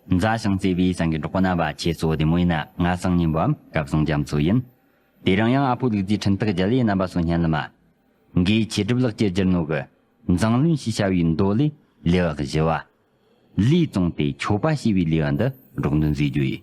མཛའ་ཞིང་བརྩེ་བའི་སེང་གེ་འབྲོག་པ་ན་བ་ཁྱེད་ཚོ་བདེ་མོ་ཡིན་ན་ང་སང་ཉིན་བམ་སྐབས་སང་རྒྱ་མཚོ་ཡིན། དེ་རིང་ཡང་ཨ་ཕོ་ལུག་རྫིའི་འཕྲིན་ཐག་རྒྱ་ལའི་རྣམ་པ་སོ་སྙན་ལི་མ། འགའི་ཁྱི་སྒྲིབ་ལག་ཁྱེར་སྒྱུར་ནོ་གི། མཛངས་བླུན་ཞེས་བྱ་བའི་མདོ་ལས་ལེ་བག་བཞི་བ། ལུས་བཙོང་སྟེ་ཁྱོ་པ་ཞེས་པའི་ལེ་བ་འདི་སྒྲོག་འདོན་མཛད་རྒྱུ་ཡིན།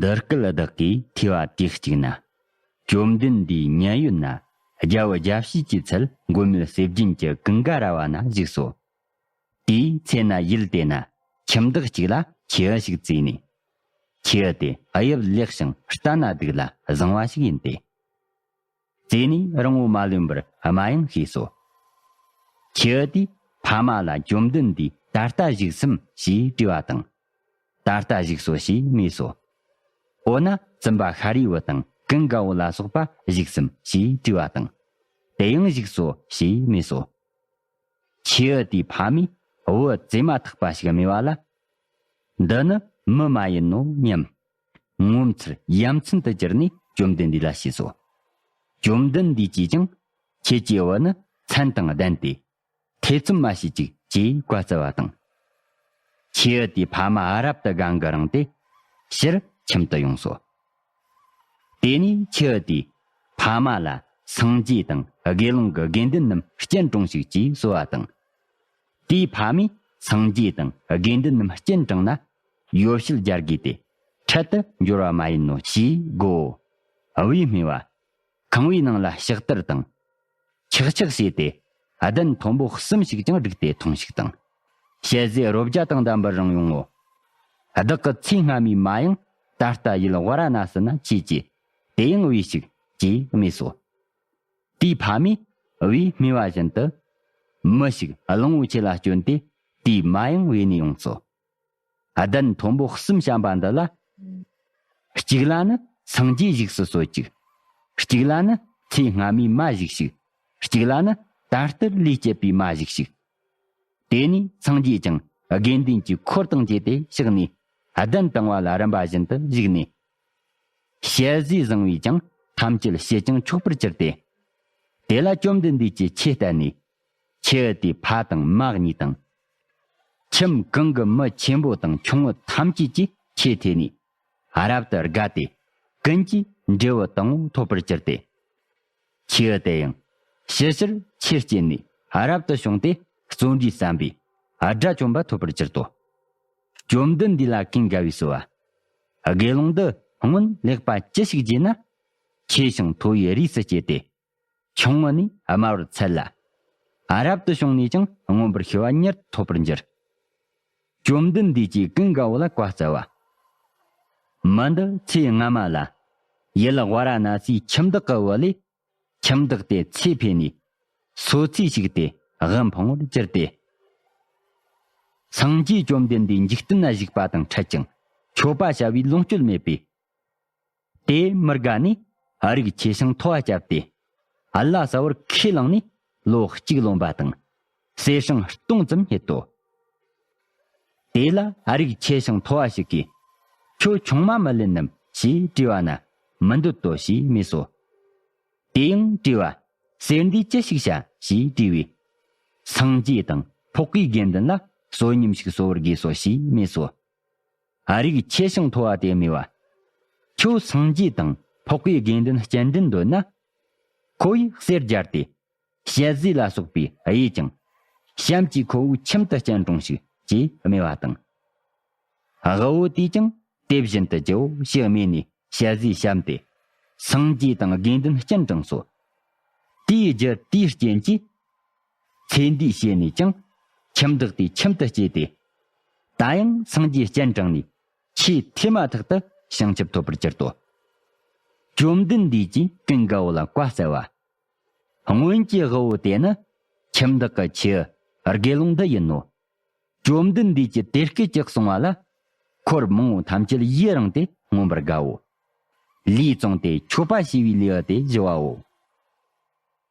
འདི་སྐད་བདག་གིས་ཐོས་པ་དེ་གཅིག་ན། བཅོམ་ལྡན་འདས་མཉན་ཡོད་ན་རྒྱལ་བུ་རྒྱལ་བྱེད་ཀྱི་ཚལ་མགོན་མེད་གསེར་རྒྱན་གྱི་ཀུན་དགའ་ར་བ་ན་བཞུགས་སོ། དེའི་ཚེ་ན་ཡུལ་དེ་ན་ཁྱིམ་བདག་ཅིག་ལ་ཁྱི་འི་ཞིག་བཙས་ནས། ཁྱི་འི་དེ་དབྱིབས་ལེགས་ཤིང་རྟ་ན་སྡུག་ལ་བཟང་བ་ཞིག་ཡིན་ཏེ། རྩེ་ནས་རང་ངོ་མ་ལོན་པར་སྨྲ་ཡང་ཤེས་སོ། ཁྱི་ཨུ་དེས་ཕ་མ་ལ་བཅོམ་ལྡན་འདས་ད་ལྟ་བཞུགས་སམ་ཞེས་དྲིས་པ་དང། ད་ལྟ་བཞུགས་སོ་ཞེས་སྨྲས་སོ། འོ་ན་བཙུན་པ་ཤཱ་རིའི་བུ་དང་ཀུན་དགའ་བོ་ལ་སོགས་པ་བཞུགས་སམ་ཞེས་དྲིས་པ་དང། དེ་ཡང་བཞུགས་སོ་ཞེས་སྨྲས་སོ། ཁྱི་ཨུ་དེའི་ཕ་མས་བུ་བཙས་མ་ཐག་པ་ཞིག་སྨྲས་པ་ལ། འདི་ནི་མི་མ་ཡིན་ནོ་སྙམ། ངོ་མཚར་ཡ་མཚན་དུ་གྱུར་ནས་བཅོམ་ལྡན་འདས་ལ་ཞུས་སོ། བཅོམ་ལྡན་འདས་ཀྱིས་ཀྱང། ཁྱེད་ཀྱི་བུ་ནི་མཚན་དང་ལྡན་ཏེ། ཐེ་ཚོམ་མ་བྱེད་ཅིག་ཅེས་བཀའ་སྩལ་བ་དང། ཁྱེའུ་དེའི་ཕ་མ་རབ་ཏུ་དགའ་མགུ་རངས་ཏེ། ཕྱིར་ཁྱིམ་དུ་ཡོངས་སོ། དེ་ནས་ཁྱེའུ་དེས་ཕ་མ་ལ་སངས་རྒྱས་དང་དགེ་སློང་གི་དགེ་འདུན་རྣམས་སྤྱན་དྲངས་ཤིག་ཅེས་གསོལ་བ་དང། དེའི་ཕ་མས་སངས་རྒྱས་དང་དགེ་འདུན་རྣམས་སྤྱན་དྲངས་ན། ཡོ་བྱད་སྦྱར་དགོས་ཏེ། འཕྲལ་དུ་འབྱོར་བ་མ་ཡིན་ནོ་ཞེས་བསྒོའོ། དབུས་སྨེ་བ། ཁང་བའི་ནང་ལ་ཕྱག་དར་དང། ཆག་ཆག་བྱས་ཏེ། གདན་མཐོན་པོ་གསུམ་ཞིག་ཀྱང་བསྒྲིགས་ཏེ་ཐུང་ཞིག་དང། ཞལ་ཟས་རོ་བརྒྱ་དང་ལྡན་པར་རང་ཡོང་ངོ། བདག་གི་ཚེ་སྔ་མའི་མ་ཡང་ད་ལྟ་ཡུལ་དབའ་ར་ན་སི་ན་ཆོས་ཀྱི་དེ་ཡང་དབུས་ཤིག་ཅེས་སྨྲས་སོ། དེའི་ཕ་མས་དབུས་སྨེ་བ་བཞིན་དུ། མི་ཞིག་གླང་བོ་ཆེ་ལ་སྐྱོན་ཏེ་དེའི་མ་ཡང་བས་ནས་ཡོངས་སོ། གདན་མཐོན་པོ་གསུམ་བཤམས་པ་འདི་ལ། གཅིག་ལ་ནི་སངས་རྒྱས་བཞུགས་སུ་གསོལ་ཅིག། གཅིག་ལ་ནི་ཚེ་སྔ་མའི་མ་བཞུགས་ཤིག། གཅིག་ལ་ནི་ད་ལྟར་ལུས་སྐྱེད་པའི་མ་བཞུགས་ཤིག། དེ་ནས་སངས་རྒྱས་ཀྱང་དགེ་འདུན་གྱི་འཁོར་དང་བཅས་ཏེ་གཤེགས་ནས་གདན་བཏིང་བ་ལ་རིམ་པ་བཞིན་དུ་བཞུགས་ནས། ཞལ་བཞེས་བཟང་བས་ཀྱང་ཐམས་ཅད་ཕྱེད་ཅིང་ཕྱོགས་པར་གྱུར་ཏེ། དེ་ལ་བཅོམ་ལྡན་འདས་ཀྱིས་ཆོས་བསྟན་ནས། ཁྱི་དེའི་ཕ་དང་མ་གཉིས་དང། ཁྱིམ་གང་གི་མི་ཆེན་པོ་དང་ཆུང་ངུ་ཐམས་ཅད་ཀྱིས་ཁྱི་དེ་ནི་རབ་ཏུ་དགའ་སྟེ། ཀུན་གྱིས་འབྲས་བུ་དང་བོ་འཐོབ་པར་གྱུར་ཏེ། ཁྱི་དེ་ཡང་ཕྱི་ཕྱིར་ཁྱི་སྐྱེས་ནས་རབ་ཏུ་བྱུང་སྟེ་བརྩོན་འགྲུས་བརྩམས་པས་དགྲ་བཅོམ་པ་ཐོབ་པར་གྱུར་ཏོ། བཅོམ་ལྡན་འདས་ལ་གིང་ག་བས་གསོལ་བ། དགེ་སློང་འདི་སྔོན་ལེགས་པ་ཅི་ཞིག་བགྱིས་ན། ཁྱི་ཞིང་མཐོ་བའི་རིས་སུ་སྐྱེས་ཏེ། ཆུང་ངུ་ནས་དམའ་བར་འཚལ་ལ། རབ་ཏུ་བྱུང་ནས་ཀྱང་མངོན་པར་ཤེས་པ་མྱུར་དུ་ཐོབ་པར་འགྱུར། བཅོམ་ལྡན་འདས་ཀྱིས་ཀུན་དགའ་བོ་ལ་བཀའ་སྩལ་པ། མི་འདི་ཚེ་སྔ་མ་ལ། ཡུལ་བྷ་ར་ན་སིའི་ཁྱིམ་བདག་གི་བུ་ལས། ཁྱིམ་བདག་དེས་ཚེ་འཕོས་ནས། སོ་ཚིས་བྱུགས་ཏེ་དབུལ་འཕང་བར་གྱུར་ཏེ། སངས་རྒྱས་བཅོམ་ལྡན་འདས་འཇིག་རྟེན་ན་བཞུགས་པ་དང་འཕྲད་ཅིང་མཆོད་པ་བྱ་བའི་ལོངས་སྤྱོད་མེད་པས་དེས་མི་དགའ་ནས་ཨ་རིག་ཆེ་ཞིང་མཐོ་བ་བསྐྱབས་ཏེ། ཨ་ལ་ས་བོར་ཁས་བླངས་ནས་ལོ་གཅིག་ལོན་པ་དང། ཟས་ཤིང་སྟོང་ཙམ་རྙེད་དོ། དེ་ལ་ཨ་རིག་ཆེ་ཞིང་མཐོ་བ་ཞིག་གིས། ཁྱོད་ཆུང་མ་མི་ལེན་ནམ་ཞེས་དྲིས་བ་ན་མི་འདོད་དོ་ཞེས་སྨྲས་སོ། དེ་ཡང་དྲིས་བ། གསེར་འདིས་ཅི་ཞིག་བྱ་ཞེས་དྲིས་པས། སངས་རྒྱས་དང་ཕོག་གི་དགེ་འདུན་ལ་བསོད་སྙོམས་ཤིག་གསོ་བར་དགོས་སོ་ཞེས་སྨྲས་སོ། ཨ་རིག་ཆེ་ཞིང་མཐོ་བ་དེ་སྨྲས་པ། ཁྱོད་སངས་རྒྱས་དང་ཕོག་པའི་དགེ་འདུན་སྤྱན་འདྲེན་འདོད་ན། ཁོ་ཡིས་གསེར་སྦྱར་ཏེ། ཞལ་བཟས་ལ་སོགས་པས་དབྱེ་ཅིང། གཤམ་གྱི་ཁོ་བོའི་ཁྱིམ་དུ་སྤྱན་དྲོངས་ཤིག་ཅེས་སྨྲས་པ་དང། དབུལ་བོ་དེས་ཀྱང་དེ་བཞིན་དུ་བགྱིའོ་ཞེས་སྨྲས་ནས་ཞལ་བཟས་བཤམས་ཏེ། སངས་རྒྱས་དང་དགེ་འདུན་སྤྱན་དྲངས་སོ། དེའི་རྒྱུ་དེའི་རྐྱེན་གྱིས། ཚེ་འདིའི་བཤེས་ནས་ཀྱང། ཁྱིམ་བདག་དེའི་ཁྱིམ་དུ་སྐྱེས་ཏེ། ད་ཡང་སངས་རྒྱས་སྤྱན་དྲངས་ནས། ཆེས་མཐའི་མ་ཐག་ཏུ་བྱང་ཆུབ་ཐོབ་པར་གྱུར་ཏོ། བཅོམ་ལྡན་འདས་ཀྱིས་ཀུན་དགའ་བོ་ལ་བཀའ་སྩལ་པ། སྔོན་གྱི་དབུལ་བོ་དེ་ནི། ཁྱིམ་བདག་གི་ཁྱི་དགེ་སློང་འདི་ཡིན་ནོ། བཅོམ་ལྡན་འདས་ཀྱིས་དེ་སྐད་ཅེས་གསུང་བ་ལ། འཁོར་མང་བོ་ཐམས་ཅད་ཡིད་རངས་ཏེ་མངོན་པར་དགའོ། ལུས་བཙོངས་ཏེ་ཆོས་པ་ཤི་བའི་ལུས་དེ་ཞི་བའོ།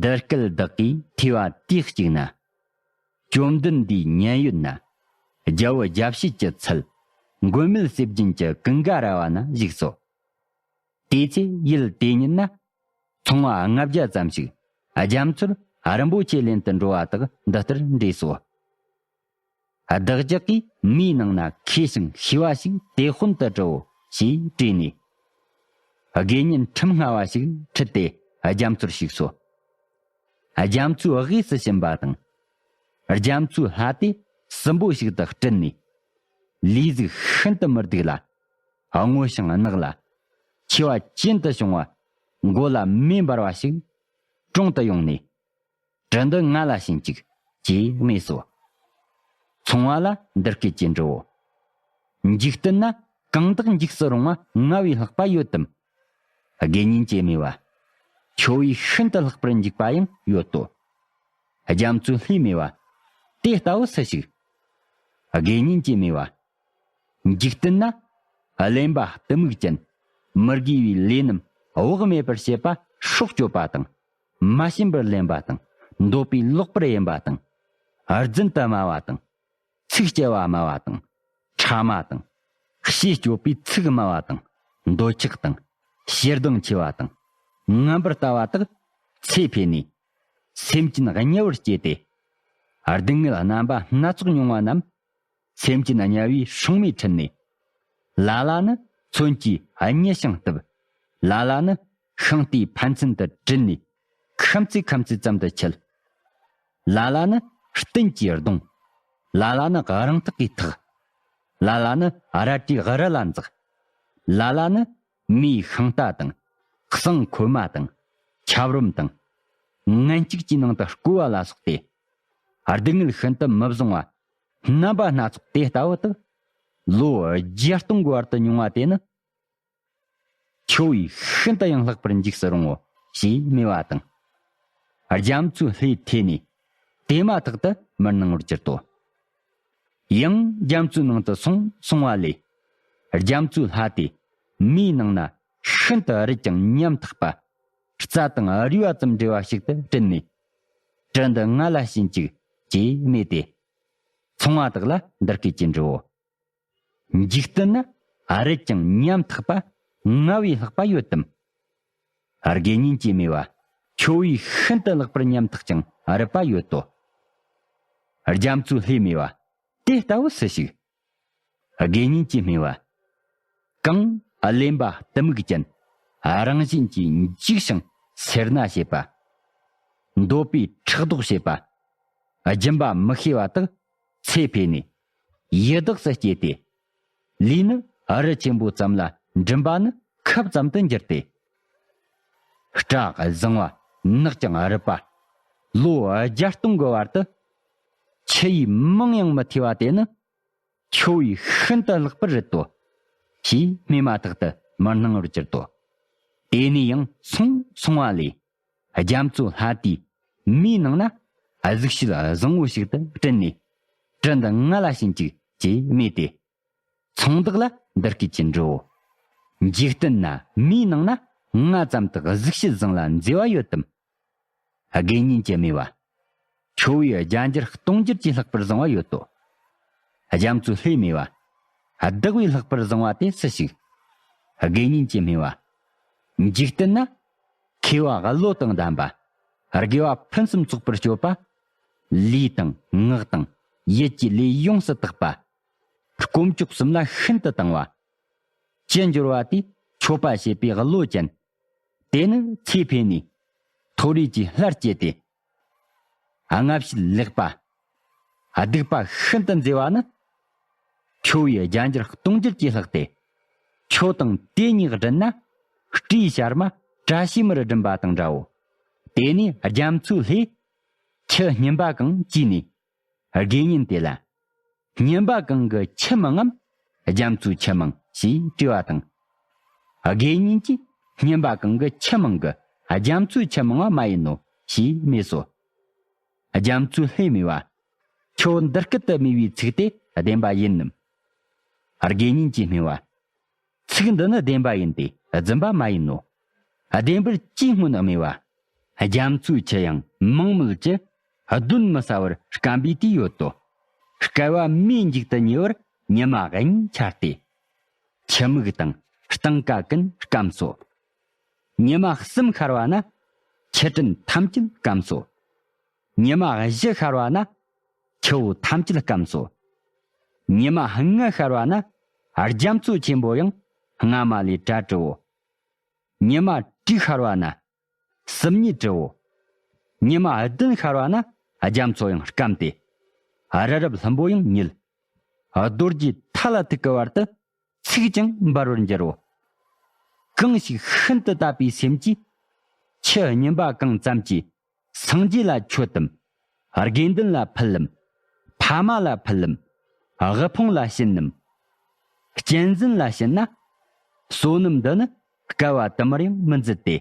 འདི་སྐད་བདག་གིས་ཐོས་པ་དུས་གཅིག་ན། བཅོམ་ལྡན་འདས་མཉན་ཡོད་ན། རྒྱལ་བུ་རྒྱལ་བྱེད་ཀྱི་ཚུལ། མགོན་མེད་གསེར་རྒྱན་གྱི་ཀུན་དགའ་ར་བ་ན་བཞུགས་སོ། དེའི་ཚེ་ཡུལ་དེ་ཉིད་ན། ཚོང་བ་ལྔ་བརྒྱ་ཙམ་ཞིག་རྒྱ་མཚོར་རིན་པོ་ཆེ་ལེན་དུ་འགྲོ་བ་དག་འདི་ལྟར་འདྲེས་སོ། བདག་ཅག་གིས་མིའི་ནང་ན་མཁས་ཤིང་ཤེས་པ་ཞིག་དེ་དཔོན་དུ་དྲིའོ་ཞེས་དྲིས་ནས། དགེ་བསྙེན་ཁྲིམས་སྔ་བ་ཞིག་ཁྲིད་དེ་རྒྱ་མཚོར་ཞུགས་སོ། རྒྱ་མཚོའི་དབུས་སུ་ཕྱིན་པ་དང། རྒྱ་མཚོའི་ལྷ་དེ་སྲིན་པོ་ཞིག་ཏུ་སྤྲུལ་ནས། ལུས་གཟུགས་ཤིན་ཏུ་མི་སྡུག་ལ། སྔོ་ཞིང་རྣག་ལ། མཆེ་བ་ཅན་དུ་བྱུང་བ། མགོ་ལ་མེ་འབར་བ་ཞིག། དྲུང་དུ་ཡོང་ནས། རི་འདི་ང་ལ་བྱིན་ཅིག། ཅེས་སྨྲས་སོ། ཚོང་བ་ལ་འདི་སྐད་ཅེས་འདྲི་བོ། འཇིག་རྟེན་ན་གང་དག་འཇིགས་སུ་རུང་བ་ལྔ་བའི་ལྷག་པ་ཡོད་དམ། དགེ་བསྙེན་བྱེད་མོས་པ། ཁྱོ་བོའི་ཤིན་ཏུ་ལྷག་པར་འཇིགས་པ་ཡང་ཡོད་དོ། རྒྱ་མཚོའི་ལྷའི་མོས་པ། དེ་ལྟ་བུ་སུ་ཞིག། དགེ་བསྙེན་བྱེད་མོས་པ། འཇིག་རྟེན་ན། གླེན་པ་གཏི་མུག་ཅན། མི་དགེ་བའི་ལས་རྣམས་དབུགས་མེད་པར་བྱེད་པ་སྲོག་གཅོད་པ་དང། མ་ཞེན་པར་ལེན་པ་དང། འདོད་པའི་ལོག་པར་གཡེམ་པ་དང། རྫུན་དུ་སྨྲ་བ་དང། ཚིག་སྐྱེལ་བ་སྨྲ་བ་དང། ཕྲ་མ་དང། ཤེས་སྐྱོབ་པའི་ཚིག་སྨྲ་བ་དང། འདོད་ཆགས་དང། ཞེ་སྡང་ཆེ་བ་དང། རྔམ་པར་ལྟ་བ་དག། ཚེ་འཕོས་ནས། སེམས་ཅན་དམྱལ་བར་སྐྱེས་ཏེ། སྡུག་བསྔལ་རྣམ་པ་སྣ་ཚོགས་མྱོང་བ་རྣམས། སེམས་ཅན་དམྱལ་བའི་ཕྱུང་མའི་ཁྲི་ནས། ལ་ལ་ནི་མཚོན་གྱིས་མཉེས་ཤིང་གཏུབས། ལ་ལ་ནི་ཤིང་རྟའི་ཕན་ཚུན་དུ་དྲིལ་ནས། ཁམ་ཚིག་ཁམ་ཚིག་ཙམ་དུ་འཁྱིལ། ལ་ལ་ནི་སྟེང་གི་གདུང། ལ་ལ་ནི་རང་ཐག་གི་ཐག། ལ་ལ་ནི་རལ་གྲིའི་རི་ལ་འཛེགས། ལ་ལ་ནི་མིའི་ཤིང་རྟ་དང། གསང་ཁོལ་མ་དང། ཁྱབ་རོམ་དང། ངན་གཅིག་ཅེས་ནང་དུ་བསྐུལ་བ་ལ་སོགས་ཏེ། སྡུག་བསྔལ་ཤིན་ཏུ་མི་བཟང་བ། རྣམ་པ་སྣ་ཚོགས་དེ་ལྟ་བུ་དུ། ལོ་བརྒྱ་སྟོང་གི་བར་དུ་མྱོང་བ་དེ་ནི། ཁྱོ་བོས་ཤིན་ཏུ་ཡང་ལྷག་པར་འཇིགས་སུ་རུང་ངོ་ཞེས་སྨྲས་པ་དང། རྒྱ་མཚོའི་ལྷའི་ཐད་ནས་དེ་མ་ཐག་ཏུ་མར་སྣང་བར་གྱུར་ཏོ། ཡང་རྒྱ་མཚོའི་ནང་དུ་སོང་སོང་བ་ལས། རྒྱ་མཚོའི་ལྷ་དེ་མེའི་ནང་ན་ཤིན་ཏུ་རིད་ཅིང་ཉམ་ཐག་པ། རྩྭ་དང་རུས་པ་ཙམ་འདྲེས་པ་ཞིག་ཏུ་བྲིད་ནས་དྲི་འདི་ང་ལ་བྱིན་ཅིག། ཅེས་སྨྲས་ཏེ། ཚངས་མ་དག་ལ་འདི་སྐད་ཅེས་འདྲིའོ། འཇིག་རྟེན་ན་རེད་ཀྱང་ཉམ་ཐག་པ་ལྔ་བའི་ལྷག་པ་ཡོད་དམ། དགེ་བསྙེན་གྱི་སྨྲས་པ། ཁྱོད་བས་ཤིན་ཏུ་ལྷག་པར་ཉམ་ཐག་ཅིང་རིད་པ་ཡོད་དོ། རྒྱ་མཚོའི་ལྷས་སྨྲས་པ། དེ་ལྟ་བུ་སུ་ཞིག། དགེ་བསྙེན་གྱི་སྨེ་བ། གང། གླེན་པ་གཏི་མུག་ཅན། རང་བཞིན་གྱིས་འཇིགས་ཤིང་སེར་སྣ་བྱེད་པ། འདོད་པའི་ཕྲག་དོག་བྱེད་པ། སྦྱིན་པ་མི་ཤེས་པ་དག་ཚེ་འཕོས་ནས། ཡི་དྭགས་སུ་སྐྱེས་ཏེ། ལུས་ནི་རི་ཆེན་པོ་ཙམ་ལ་འགྲིམ་པ་ནི་ཁབ་ཙམ་དུ་འགྱུར་ཏེ། སྐྲ་བཟང་བ་ནག་ཅིང་རུབ་པ། ལོ་བརྒྱ་སྟོང་གི་བར་དུ། ཕྱི་ཡི་མིང་ཡང་མི་ཐོས་པ་དེ་ནི། ཁྱོད་ཡིས་ཤིན་ཏུ་བརླག་པར་རིག་ཏོ། ཞེས་སྨྲས་མ་ཐག་ཏུ་མི་སྣང་བར་གྱུར་ཏོ། དེ་ནས་ཡང་སོང་སོང་བ་ལས། རྒྱ་མཚོ་ལྷ་དེས་མིའི་ནང་ན། གཟུགས་བྱད་བཟང་བོ་ཞིག་ཏུ་སྤྲུལ་ནས། དྲི་འདི་ང་ལ་བྱིན་ཅིག་ཅེས་སྨྲས་ཏེ། ཚོང་བདག་ལ་འདི་སྐད་ཅེས་འབྲོའོ། འཇིག་རྟེན་ན་མིའི་ནང་ན་ང་ཙམ་དག་གཟུགས་ཤུལ་བཟང་ལ་མཛེས་བ་ཡོད་དམ། དགེ་བསྙེན་གྱི་སྨྲས་པ། ཁྱོ་བོའི་རྒྱ་འགྱུར་སྟོང་འགྱུར་གྱིས་ལྷག་པར་བཟང་བ་ཡོད་དོ། རྒྱ་མཚོའི་ལྷས་སྨྲས་པ། བདག་བས་ལྷག་པར་བཟང་བ་དེ་སུ་ཞིག། དགེ་བསྙེན་གྱིས་སྨྲས་པ། འཇིག་རྟེན་ན་མཁས་བ་ཀླུ་བློ་དང་ལྡན་པ། དགེ་བ་ཕུན་སུམ་ཚོགས་པར་སྤྱོད་པ། ལུས་དང་ངག་དང་ཡིད་ཀྱི་ལས་ཡོངས་སུ་དག་པ། དཀོན་མཆོག་གསུམ་ལ་ཤིན་ཏུ་དང་བ། ཅི་འབྱོར་བ་དེས་མཆོད་པ་བྱེད་པའི་བློ་ཅན། དེ་ནི་ཚེ་འཕེལ་ནས་མཐོ་རིས་ཀྱི་སླར་སྐྱེས་ཏེ། སྔ་ཕྱིར་ལེགས་པ། སྡིག་པ་ཤིན་ཏུ་མཛེས་པ་ནི། ཁྱོ་བོའི་རྒྱ་འགྱུར་སྟོང་འགྱུར་གྱིས་ལྷག་སྟེ། ཁྱོ་དང་དེ་གཉིས་བསྒྲིལ་ན། སྤྲིའི་ཤར་མ་བཀྲ་ཤིས་མར་བསྒྲིམས་པ་དང་འདྲའོ། དེ་ནས་རྒྱ་མཚོའི་ལྷས། ཁྱི་སྙིམ་པ་གང་བཅིས་ནས། དགེ་བསྙེན་དེ་ལ། བསྙེན་པ་གང་གི་ཁྱིམ་མང་ངམ། རྒྱ་མཚོའི་ཁྱིམ་མང་ཞེས་དྲི་བ་དང། དགེ་བསྙེན་གྱིས་བསྙེན་པ་གང་གི་ཁྱིམ་མང་གི་རྒྱ་མཚོའི་ཁྱིམ་མང་བ་མ་ཡིན་ནོ་ཞེས་སྨྲས་སོ། རྒྱ་མཚོའི་ལྷས་སྨྲས་པ། ཁྱོད་འདི་སྐད་དུ་སྨྲས་པའི་ཚིག་དེ་བདེན་པ་ཡིན་ནམ། དགེ་བསྙེན་གྱིས་སྨྲས་པ། ཚིག་འདི་ནི་བདེན་པ་ཡིན་ཏེ་རྫུན་པ་མ་ཡིན་ནོ། བདེན་པར་ཅིས་སྔོན་སྨོས་པ། རྒྱ་མཚོའི་ཁྱི་ཡང་མིང་མེད་ཀྱི། གདོན་མི་ཟ་བར་སྐམ་པའི་དུས་ཡོད་དོ། བསྐལ་བ་མིའི་མཇུག་ཏུ་ཉེ་བར་ཉི་མ་དབྱིངས་འཆར་ཏེ། ཁྱི་མིག་དང་སྟངས་ཀ་ཀུན་སྐམས་སོ། ཉི་མ་གསུམ་ཤར་བ་ན། ཁྱི་སྤྲིན་ཐམས་ཅད་སྐམས་སོ། ཉི་མ་བཞི་ཤར་བ་ན་ཁྱི་བོ་ཐམས་ཅད་སྐམས་སོ། ཉི་མ་ལྔ་ཤར་བ་ན་རྒྱ་མཚོ་ཆེན་པོ་ཡང་སྔ་མ་ལས་གྲལ་བྲིའོ། ཉི་མ་དྲུག་ཤར་བ་ན་སྲུབས་ཉིད་བྲིའོ། ཉི་མ་བདུན་ཤར་བ་ན་རྒྱ་མཚོ་ཡང་སྐམས་ཏེ། རི་རབ་ལྷུན་པོ་ཡང་ཉིལ། རྡོ་རྗེ་ཐ་ལ་ཐུག་གི་བར་དུ་ཚིག་ཀྱང་འབར་བར་འགྱུར་རོ། གང་ཞིག་ཤིན་ཏུ་དད་པའི་སེམས་ཀྱིས་ཁྱི་སྙིམ་པ་གང་ཙམ་གྱིས་སངས་རྒྱས་ལ་མཆོད་དམ། དགེ་འདུན་ལ་ཕུལ་ལམ། ཕ་མ་ལ་ཕུལ་ལམ། དབུལ་ཕོངས་ལ་བྱིན་ནམ། གཅན་འཛིན་ལ་བྱིན་ན། བསོད་ནམས་འདི་ནི་སྐལ་བ་དུ་མར་ཡང་མི་འཛིན་ཏེ།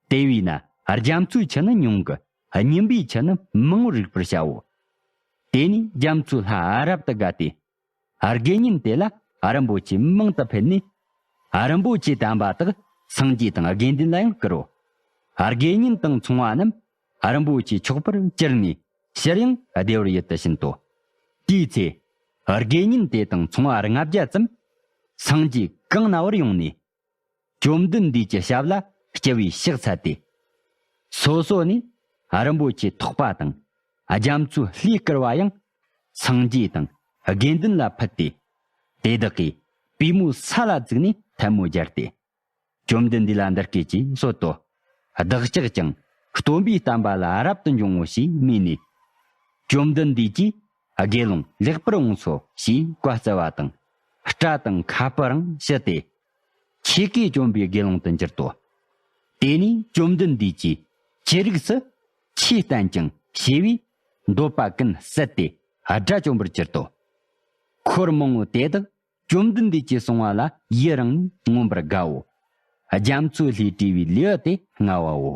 དེ་བས་ན་རྒྱ་མཚོའི་ཆུ་ནི་ཉུང་གི་སྙིམ་པའི་ཆུ་ནི་མང་བར་རིག་པར་བྱའོ། དེ་ནས་རྒྱ་མཚོའི་ལྷ་རབ་ཏུ་དགའ་སྟེ་དགེ་བསྙེན་དེ་ལ་རིན་པོ་ཆེ་མང་དུ་ཕུལ་ནས། རིན་པོ་ཆེ་དམ་པ་དག་སངས་རྒྱས་དང་དགེ་འདུན་ལ་ཡང་བསྐུར་རོ། དགེ་བསྙེན་དང་ཚོང་བ་རྣམས་རིན་པོ་ཆེ་ཕྱོགས་པར་བཅིར་ནས་ཕྱིར་ཡང་བདེ་བར་ཡིད་དུ་ཕྱིན་ཏོ། དེའི་ཚེ། དགེ་བསྙེན་དེ་དང་ཚོང་བ་ལྔ་བརྒྱ་ཙམ། སངས་རྒྱས་གང་ན་བར་ཡོང་ནས། བཅོམ་ལྡན་འདས་ཀྱི་ཞབས་ལ་སྐྱེ་བའི་ཕྱག་འཚལ་ཏེ། སོ་སོ་ནས་རིན་པོ་ཆེ་ཐོགས་པ་དང་རྒྱ་མཚོའི་ལྷའི་བསྐུར་བ་ཡང་སངས་རྒྱས་དང་དགེ་འདུན་ལ་ཕུལ་ཏེ། དེ་དག་གིས་པུས་མོའི་ས་ལ་བཙུགས་ནས་ཐལ་མོ་སྦྱར་ཏེ། བཅོམ་ལྡན་འདས་ལ་འདི་སྐད་ཅེས་གསོལ་ཏོ། བདག་ཅག་ཀྱང་སྟོན་པའི་བསྟན་པ་ལ་རབ་ཏུ་འབྱུང་ངོ་ཞེས་སྨྲས་ནས། བཅོམ་ལྡན་འདས་ཀྱིས་དགེ་སློང་ལེགས་པར་འོངས་སོ་ཞེས་བཀའ་སྩལ་བ་དང། སྐྲ་དང་ཁ་སྤུའང་ཕྱི་སྟེ། ཆོས་གོས་གྱོན་པའི་དགེ་སློང་དུ་འགྱུར་ཏོ། དེ་ནས་བཅོམ་ལྡན་འདས་ཀྱིས་ཅི་རིགས་སུ། ཆོས་བསྟན་ཅིང་ཞེས་པས་འདོད་པ་ཀུན་བསལ་ཏེ་དགྲ་བཅོམ་པར་གྱུར་ཏོ། འཁོར་མང་བོ་དེ་དག་བཅོམ་ལྡན་འདས་ཀྱིས་གསུང་བ་ལ་ཡི་རང་ནས་མངོན་པར་དགའ་བོ། རྒྱ་མཚོའི་ལྷས་དྲིས་པའི་ལེའུ་སྟེ་ལྔ་བའོ།